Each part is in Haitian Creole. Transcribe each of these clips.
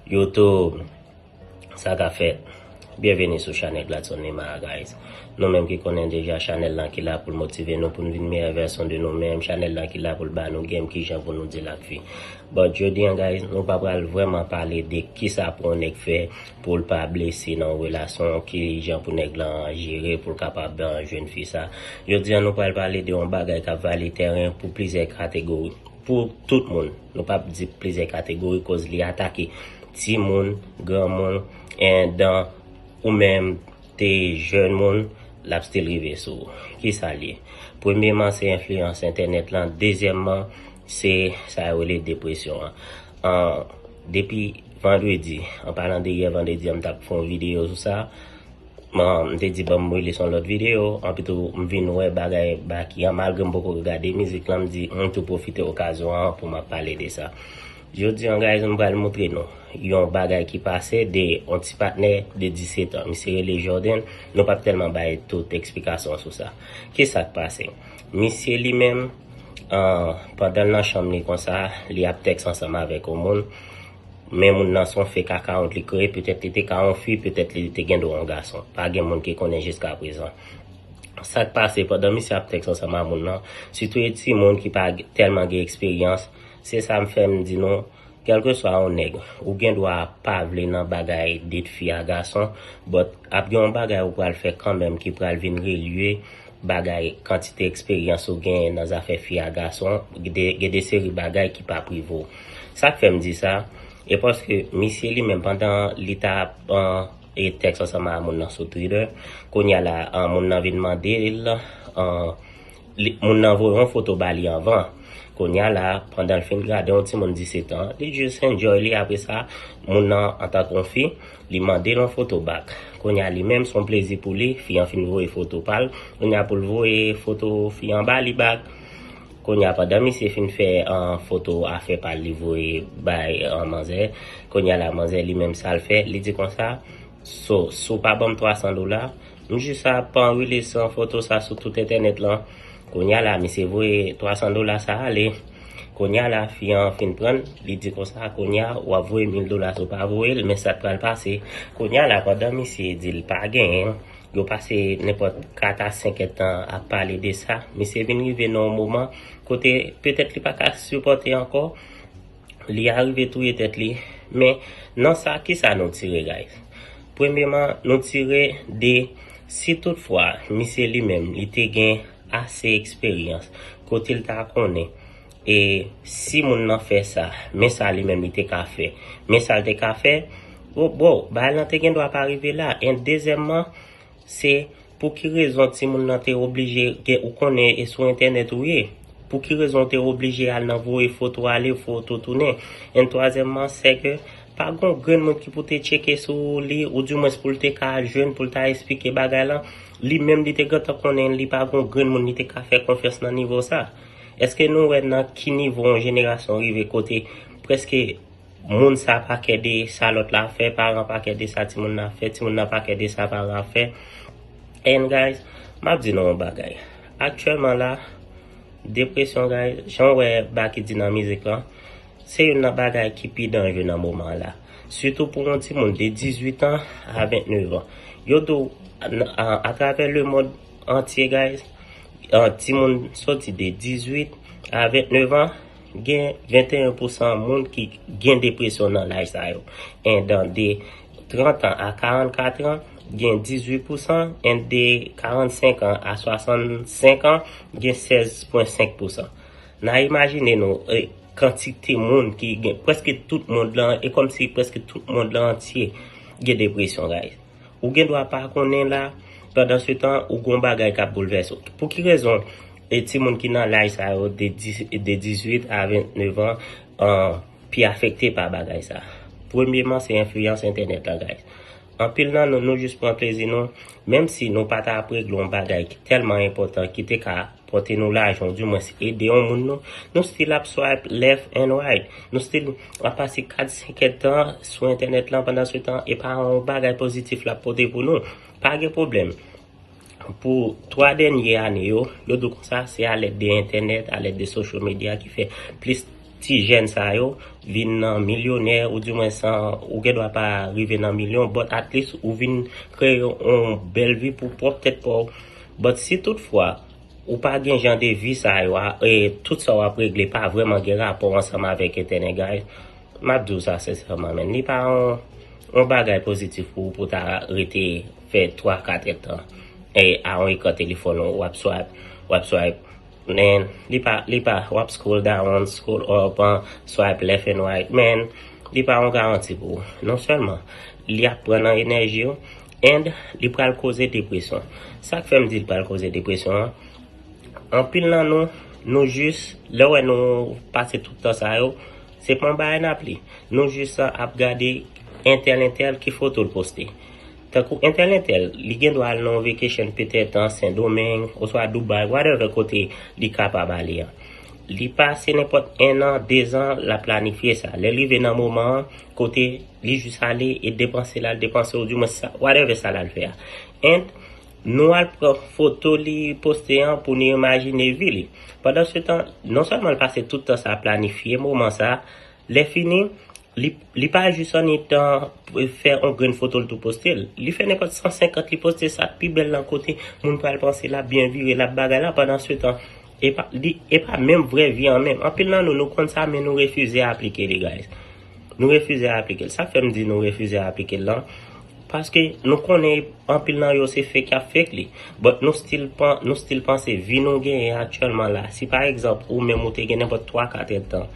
Youtube sa ka fèt. Byenvini sou chanèl Gladson Limar guys Nou menm ki konnen deja chanèl lan ki la poul motive nou poun vin meyè vèsyon de nou menm chanèl lan ki la poul ba nou game kijan pou nou deal ak fi But jodi an guys nou pa pral vrèman pale de kisa pou yon nèg fè poul pa blese nan yon relasyon kijan pou nèg lan jere poul kapab jwenn fi sa Jodi an nou pral pale de yon bagay kap vale tèren pou plizyè kategori Pou tout moun, nou pa p di plizyè kategori koz li atake timoun, granmoun en dan ou menm te jèn moun l ap stil rive sou ou. Kisa l ye? Premyeman se enfliyans entènèt lan, dezyèmman se sa yo rele depresyon an. An depi vandredi, an palan de yè vandredi an m t ap fè yon videyo sou sa, M te di banm li son lòt video, anpi tou m vin wè bagay Baky an malgre m poko gade mizik lan m di mwen tou pwofite okazyon an pou mwen pale de sa. Jodi an guys m pral moutre nou yon bagay ki pase de yon ti patnè de 17 an misye rele Jordan nou pap tèlman bay tout eksplikasyon sou sa. Ki sak pase? Misye li menm pandan l nan chanm li konsa li ap tèks ansanm avèk yon moun Men moun nan son fek akawont li kreye petet li te ka yon fi petet li te gen dwa yon gason pa gen moun ki konnen jiska prezan sak pase pandan misye ap teks ansanm a moun nan sitou e timoun ki pa telman gen eksperyans se sam fem di nou kelkeswa yon neg ou gen dwa pa vle nan bagay det fi a gason but ap gen yon bagay ou pral fè kanmem ki pral vin relye bagay kantite eksperyans ou gen nan zafè fi a gason gen de seri bagay ki pa prive w. Sa k fè m di sa, e paske misye li menm pandan li ta ap anvye tèks ansanm a moun nan sou Twitter, kounye a la a moun nan vin mande l, moun nan voye yon foto ba li anvan, kounye a la a pandan l fin gade yon timoun 17 an, li jis enjoy li apre sa moun nan antanke yon fi, li mande l yon foto bak. Kounye a li menm s on plezi pou li, fi an fin voye foto pa l, kounye a pou l voye foto fi an ba li bak. Kounya pandan misye fin fè foto afè pal li voye bay manzè, kounya la manzè li menm sal fè, li di konsa, so si w pa banm 300 dola, m jis ap anwile san foto sa sou tout entènèt lan. Kounya la misye voye 300 dola sa ale, kounya la fi an fin pran l, li di konsa kounya wap voye 1000 dola si w pa voye l men sa t pral pase. Kounya la pandan misye di l pa genyen. Yo pase nenpòt 4 a 5 èdtan ap pale de sa. Misye vin rive nan yon moman kote petèt li pa ka sipòte ankò, li arive touye tèt li. Men, nan sa, ki sa nou tire guys? Premyeman, nou tire de si tout fwa misye li menm li te gen ase eksperyans kote l ta konnen E si moun nan fè sa, men sa li menm li te ka fè. Men sa l te ka fè, o bro, bagay lan te gen dwa pa rive la. En dezyèmman, se pou ki rezon ti moun nan te oblije, gen ou konnen e sou entènèt ou ye, pou ki rezon ou te oblije al nan voye foto ale, foto tounen. En twazyèmman, se ke pa gen yon grenn moun ki pou te tcheke sou li, ou di mwens pou l te ka jwenn, pou l ta esplike bagay lan. Li menm li te gentan konnen li pa gen yon grenn moun li te ka fè konfyans nan nivo sa. Eske nou wè nan ki nivo yon jenerasyon rive kote preske moun sa pa kè de sa lòt la fè, paran pa kè de sa timoun nan ap fè, timoun nan pa kè de sa paran ap fè. And guys, m ap di nou yon bagay. Aktyèlman la, depresyon guys, jan w wè Baky di nan mizik lan, se youn nan bagay ki pi danje nan moman an la. Sitou pou yon timoun de 18 ans a 29 ans. Yo di w, atravè lemond, antye guys timoun soti de 18 a 29 ans gen 21 pousan moun ki gen depresyon nan laj sa yo en dan de 30 ans a 44 ans gen 18 pousan en de 45 ans a 65 ans gen 16.5 pousan na imajine nou kantite moun ki gen preske tout mond lan e komsi preske tout mond lan antye gen depresyon guys. Ou gen dwa pa konnen la, pandan se tan ou gon bagay kap boulvèse w. Pou ki rezon e timoun ki nan laj sa yo de 18 a 29 an pi afekte pa bagay sa? Premyeman se enfliyans entènèt la guys. Anpil nan nou nou jis pran plezi nou, menm si nou pa ta ap regle yon bagay ki tèlman enpòtan ki te ka Pote nou lajan di mwens ede yon moun nou. Nou still ap swipe left and right. Nou still ap pase 4, 5 èd tan sou entènèt lan pandan se tan e pa yon bagay pozitif lap pote pou nou. Pa gen pwoblèm. Pou 3 dènye ane yo, yo di w konsa se a lèd de entènèt, a lèd de social media ki fè plis Ti jèn sa yo vin nan milyonè ou di mwen san ou gen dwa pa rive nan milyon but at least ou vin kreye yon bèl vi pou pwòp tèt pa w but si tout fwa ou pa gen jan de vi sa yo a e tout sa w ap regle pa vrèman gen rapò ansanm avèk entènè guys m ap di w sa sensèman men li pa yon bagay pozitif pou w ta rete fè 3 4 èdtan a yon ekran telefòn w ap swipe w ap swipe. Man li pa li pa wap scroll down scroll up an swipe left and right man li pa yon garanti pou ou non sèlman li ap pran nan enèji w and li pral koze depresyon sak fèm di li pral koze depresyon an anpil nan nou nou jis lè w wè nou pase tout tan sa yo se pa yon bagay nap li nou jis ap gade entèl entèl ki foto l poste. Tankou entèlentèl, li gen dwa al nan yon vacation petèt an Sendomeng oswa Dubai, whatever kote li kapab ale an. Li pase nenpòt 1 an, 2 zan l ap planifye sa. Lè l rive nan moman an, kote li jis ale e depanse l al depanse ou di mwens sa, whatever sa l al fè a. And, nou al pran foto li poste an pou nou imajine vi li. Pandansetan, non sèlman l pase tout tan sa a planifye moman sa, lè fini, Li pa jis annik tan fè yon grenn foto l tou poste l. Li fè nenpòt 150 li poste sa k pi bèl lan kote moun pral panse l ap byen vire, l ap bagay la pandansetan e pa menm vrè vi an menm. Anpil nan nou, nou konn sa men nou refize aplike li guys. Nou refize aplike l. Sa k fè m di nou refize aplike l lan paske nou konnen anpil nan yo se fake y ap fake li but nou still nou still panse vi nou genyen aktyèlman la si pa egzanp ou menm ou te gen nenpòt 3, 4 èdtan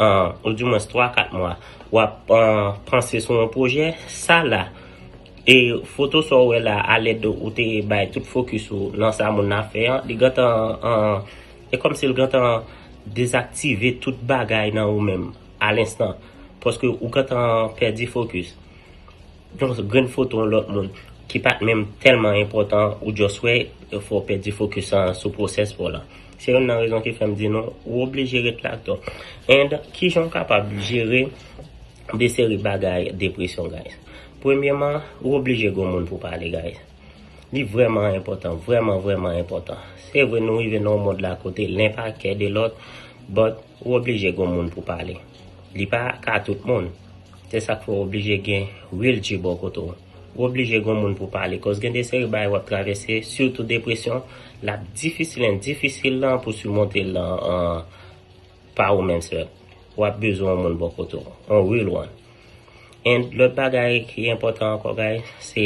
ou di mwens 3 a 4 mwa wap panse sou yon pwojè sa la e foto sa ou wè la alèd ou te bay tout fokis ou nan sa moun nan ap fè an li gentan e kòmsi li gentan dezaktive tout bagay nan ou menm alenstan paske ou gentan pèdi fokis. Yon grenn foto yon lòt moun ki pat menm tèlman enpòtan ou just wè e fè w pèdi fokis sa a sou pwosès pa w la. Se youn nan rezon ki fè m di nou ou oblije ret la tou. And kijan w kapab jere 2 seri bagay depresyon guys. Premyeman ou oblije gen yon moun pou w pale guys. Li vrèman enpòtan, vrèman vrèman enpòtan. Se vre nou rive nan yon mond la kote len pa kè de lòt but ou oblije gen yon moun pou w pale. Li pa ka tout moun. Se sak fè w oblije gen wheelchair bò kote w. Ou oblije gon moun pou pale koz gen de seri bagay wap travèse sitou depresyon lap difisil en difisil lan pou simonte l lan pa ou menm sèl. Wap bezwen yon moun bò kote w. Yon real one. And lòt bagay ki enpòtan ankò guys se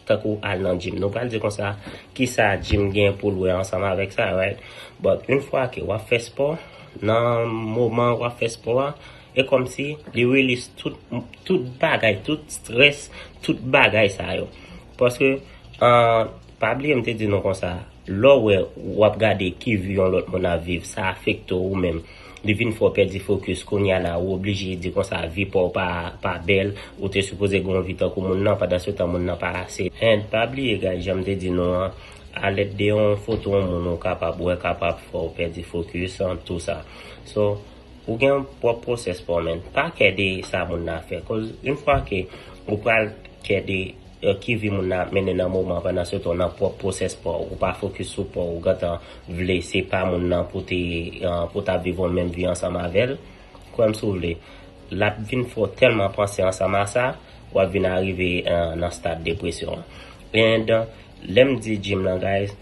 Tankou al nan gym. Nou pral di konsa kisa gym gen poul wè ansanm avèk sa right. But yn fwa ke wap fè spò, nan moman wap fè spò a, e kòmsi li release tout bagay, tout stress, tout bagay sa yo. Paske pa bliye mte di nou konsa, lè wè wap gade ki vi yon lòt moun ap viv, sa afekte ou menm. Li vin fè w pèdi fokis kounya la ou oblije di konsa vi paw pa bèl ou te sipoze gen yon vi tankou moun nan pandan se tan moun nan pa ase. And pa bliye guys janm te di nou an a lèd de yon foto yon moun ou kapab wè kapab fè w pèdi fokis and tou sa so ou gen pwòp pwosès paw man pa kè de sa moun nan ap fè koz yn fwa ke ou pral kè de ki vi moun nan ap mennen nan moman pandan se tan w nan pwòp pwosès paw ou pa fokis sou paw ou gentan Vle, se pa moun nan pou te pou ta viv yon menm vi ansanm avèl, kwèm si w vle lap vin fè w tèlman panse ansanm a sa wap vin arive nan stad depresyon and lèm di Jim lan guys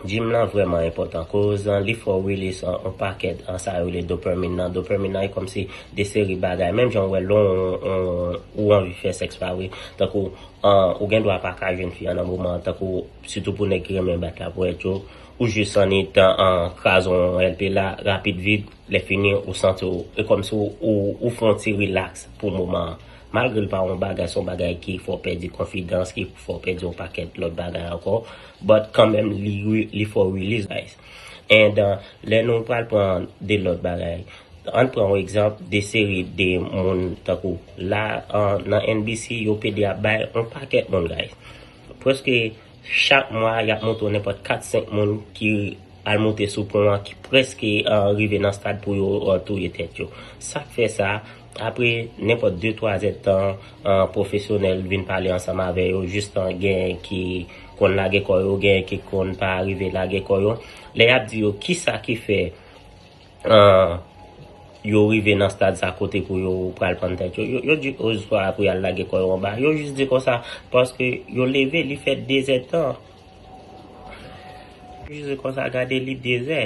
Jim lan vrèman enpòtan koz li fè w release yon pakèt sa yo rele dopamine nan, dopamine nan e kòmsi de seri bagay menm jan ou wè lè ou anvi fè sèks pa vre tankou ou gen dwa paka jwenn fi an nan moman an tankou Sitou pou nèg ki renmen bat la ponyèt yo, ou jis annik dan an kraze yon LP la rapid vit, lè fini ou santi w, e kòmsi ou fè yon ti rilaks pou moman an. Malgre l pa yon bagay, se yon bagay ki fè w pèdi konfidans, ki fè w pèdi yon pakèt lòt bagay ankò, but kanmenm li fè w release guys. And lè nou pral pran de lòt bagay, ann pran yon egzanp de seri de moun tankou la nan NBC yo pede ap bay yon pakèt moun guys. Prèske chak mwa, y ap montre w nenpòt kat senk moun ki al monte sou pon an ki prèske rive nan stad pou yo touye tèt yo. Sa k fè sa? Apre nenpòt de twa zèdtan, pwofesyonèl vin pale ansanm avè yo, jistan gen ki konn lage kò yo, gen ki konn pa rive lage kò yo. Lè y ap di yo kisa ki fè yo rive nan stad sa kote pou yo pral pann tèt yo, yo di ozwa pou yal lage kò yo anba, yo jis di konsa paske yo leve li fè dezè tan, yo jis di konsa gade li dezè,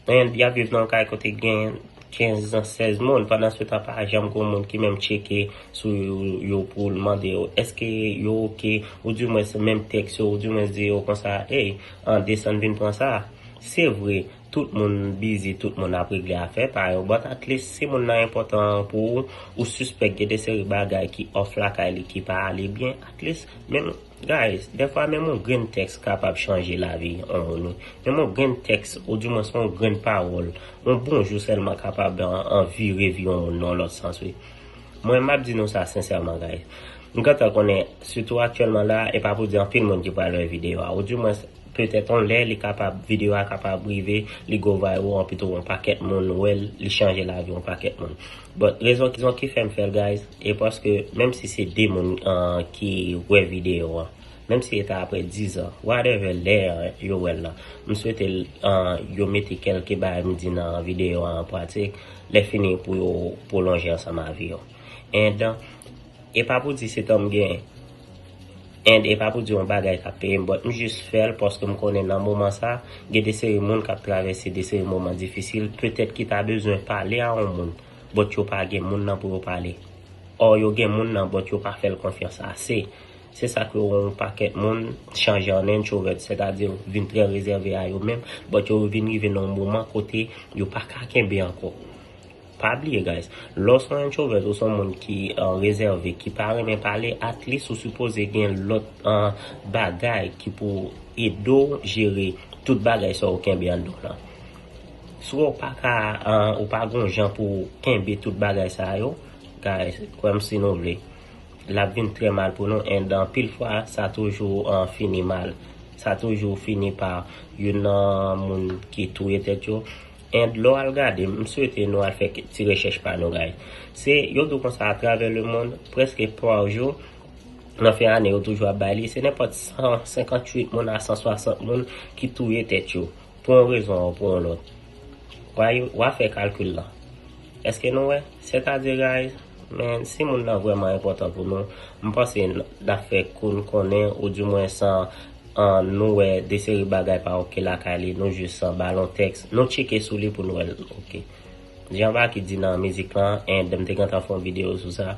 men yap viv nan yon kay kote gen 15 zan 16 moun, pandan se tan pa janm gon moun ki menm tcheke sou yo poul mande yo eske yo ok, ou di mwens menm tèks yo, ou di mwens di yo konsa ey, an desann vin pran sa, se vre. Tout moun bizi tout moun ap regle afè pa yo but at least si moun nan enpòtan pou ou, ou sispèk gen de seri bagay ki off lakay li ki pa ale byen at least menm guys dèfwa menm yon grenn tèks kapab chanje lavi yon moun wi menm yon grenn tèks ou di mwens yon grenn pawòl yon bonjou sèlman kapab an vire vi yon moun nan yon lòt sans wi mwen map di nou sa sensèman guys m gentan konnen sitou aktyèlman la e pa pou di anpil moun ki pral wè video a ou di mwens Petèt yon lè li kapab video a kapab rive li go viral an pito yon pakèt moun wèl li chanje lavi yon pakèt moun but rezon ki fèm fèl guys e paske menm si se 2 moun ki wè video an menm si se ta aprè 10 ans whatever lè yo wèl lan m swete yo mete kelke bagay m di nan video an an pratik lè fini pou yo pwolonje ansanm avè yo and e pa pou di se tanm gen And e pa pou di yon bagay kap peyem but m jus fèl paske m konnen nan moman sa gen de seri moun kap travèse de seri moman difisil petèt ki ta bezwen pale a yon moun but yo pa gen moun nan pou yo pale or yo gen moun nan but yo pa fèl konfyans ase se sak yo wè yon pakèt moun chanje an introvert sètadi vin trè rezève a yo menm but yo vin rive nan yon moman kote yo paka kenbe ankò Pa bliye guys, lè w se yon introvert ou se yon moun ki rezève, ki pa renmen pale, at least ou sipoze gen lòt bagay ki pou ede w jere tout bagay sa ou kenbe anndan w lan. Si wè w pa ka, ou pa gen yon jan pou w kenbe tout bagay sa yo, guys, kwè m si nou vle, l ap vin trè mal pou nou and anpil fwa sa toujou fini mal. Sa toujou fini pa youn nan moun ki touye tèt yo, En dlo al gade, m swete nou al fè kèk ti rechèch pa nou guys. Se, yo di w konsa a travè le mond, preske par jou, nan fen ane yo toujou ap bay li, se nenpòt 158 moun a 160 moun ki touye tèt yo, pou yon rezon ou pou yon lòt. Why, wa fè kalkil lan. Eske nou wè? Sètadi guys, men, si moun nan vrèman enpòtan pou nou, m panse n ap fè koun konnen ou di mwens an, An nou wè de seri bagay pa ok lakay li nou jus ba l on tèks nou tcheke sou li pou n wè l ok Jan Baky di nan mizik lan and m te gentan fè on videyo sou sa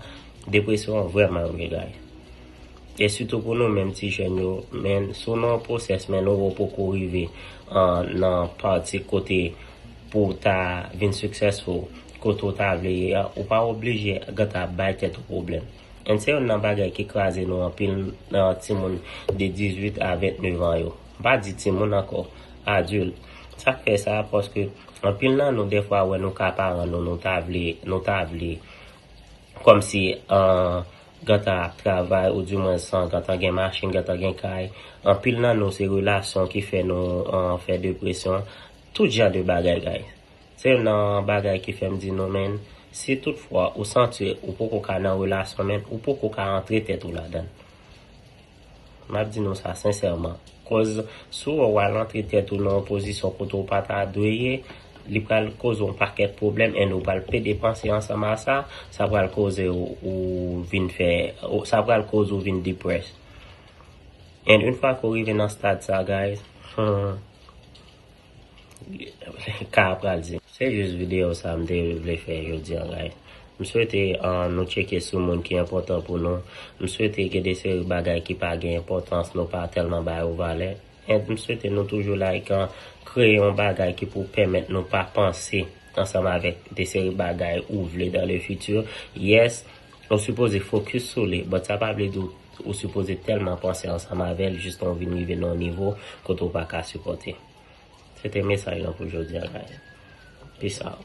depresyon vrèman yon bgy e sitou pou nou menm ti jèn yo men si w nan yon pwosès men nou wè w poko rive nan pati kote pou w ta vin successful kote w ta vle ye a ou pa oblije gentan ap bay tèt ou pwoblèm. An se youn nan bagay ki kraze nou anpil nan timoun de 18 a 29 an yo. M pa di timoun ankò, adilt. Sa k fè sa? Paske anpil nan nou dèfwa wè nou ka paran nou nou ta vle, nou ta vle kòm si an gentan ap travay ou di mwens an gentan gen machin, gentan gen kay. Anpil nan nou se relasyon ki fè nou fè depresyon, tout jan de bagay guys. Se nan bagay ki fèm di nou menn si tout fwa ou santi ou poko ka nan relasyon menn ou poko ka antre tèt ou ladann map di nou sa sensèman koz si wè wal antre tèt ou nan yon pozisyon kote ou pa ta dwe ye li pral koze yon pakèt pwoblèm and ou pral pe depanse ansanm a sa sa pral koze ou vin fè sa pral koz ou vin depressed and une fwa ke ou rive nan stad sa guys humm. Ka a pral di. Se jis video sa m te vle fè jodi an guys. M swete nou tcheke sou moun ki enpòtan pou nou. M swete gen de seri bagay ki pa gen enpòtans nou pa tèlman ba yo valè. M swete nou toujou like an, kreye yon bagay ki pou pèmèt nou pa panse. Ansanm avèk de seri bagay ou vle dans le futur, yes, ou sipoze focus sou li, but sa pa vle di ou sipoze tèlman panse ansanm avèl jiska ou vin rive nan yon nivo kote ou pa ka sipòte. Se te mesaj lan pou jodi a guys. Peace out.